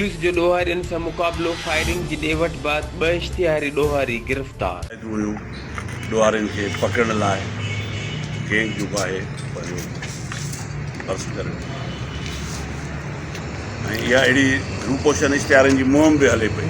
Police جو ڏوهارين سان مقابلو، فائرنگ جي ڏي وٺ بعد ٻه اشتهاري ڏوهاري گرفتار. شايد اهو ڏوهارين کي پڪڙڻ لاء گينگ جو باهه ڀريو ڀرت ڪري ڏنو آهي ۽ اها اهڙي روپوشن اشتهارين جي مهم به هلي پئي.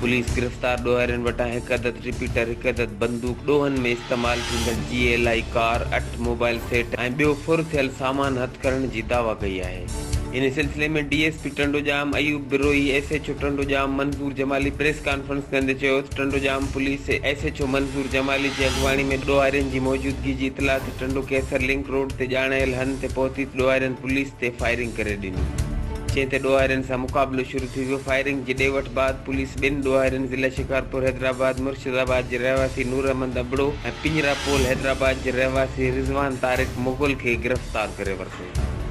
پوليس گرفتار ڏوهارين وٽان هڪ عدد رپيٽر، هڪ عدد بندوق، ڏوهن ۾ استعمال ٿيندڙ جي ايل آء ڪار، اٺ موبائل سيٽ ۽ ٻيو ڦر ٿيل سامان هٿ ڪرڻ جي دعويٰ ڪئي آهي. ان سلسلي ۾ D S P Tandojam Ayub Brohi S H O Tandojam Manzoor Jamali press conference ڪندي چيو ته Tandojam police S H O Manzoor Jamali جي اڳواڻي ۾ ڏوهارين جي موجودگي جي اطلاع تي ٽنڊو قيصر لنڪ روڊ تي ڄاڻايل هنڌ تي پهتي ته ڏوهارين پوليس تي فائرنگ ڪري ڏني جنهن تي ڏوهارين سان مقابلو شروع ٿي ويو فائرنگ جي ڏي وٺ بعد پوليس ٻن ڏوهارين ضلع شڪارپور حيدرآباد مرشد آباد جي رهواسي نور احمد ابڙو ۽ پڃرا پول حيدرآباد جي رهواسي رضوان طارق مغل کي گرفتار ڪري ورتو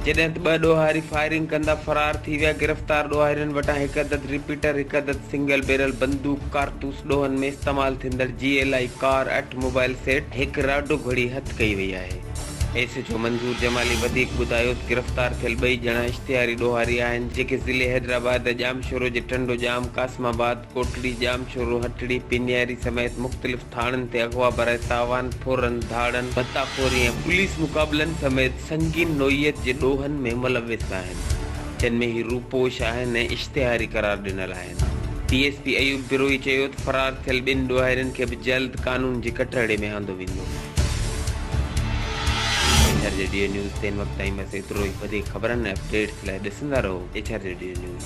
جڏهن ته ٻه ڏوهاري فائرنگ ڪندا فرار ٿي ويا گرفتار ڏوهارين وٽان هڪ عدد رپيٽر هڪ عدد سنگل بيرل بندوق ڪارتوس ڏوهن ۾ استعمال ٿيندڙ جي ايل آئي ڪار اٺ موبائل سيٽ هڪ راڊو گهڙي هٿ ڪئي وئي آهي. S H O Manzoor Jamali وڌيڪ ٻڌايو ته گرفتار ٿيل ٻئي ڄڻا اشتهاري ڏوهاري آهن جيڪي ضلعي حيدرآباد ڄامشورو جي ٽنڊو ڄام، قاسم آباد، ڪوٽڙي، ڄامشورو، هٽڙي، پينياري سميت مختلف ٿاڻن تي اغوا برائي تاوان، ڦورن، ڌاڙن، ڀتا خوري ۽ پوليس مقابلن سميت سنگين نوعيت جي ڏوهن ۾ ملوث آهن جن ۾ هي روپوش آهن ۽ اشتهاري قرار ڏنل آهن. D S P Ayub Brohi چيو ته فرار ٿيل ٻن ڏوهارين کي به جلد قانون جي ڪٽهڙي ۾ آندو ويندو. ايڇ آر ريڊيو نيوز تي هن وقت تائين بس ايترو ئي وڌيڪ خبرن ۽ اپ ڊيٽس لاء ڏسندا رهو ايڇ آر ريڊيو نيوز.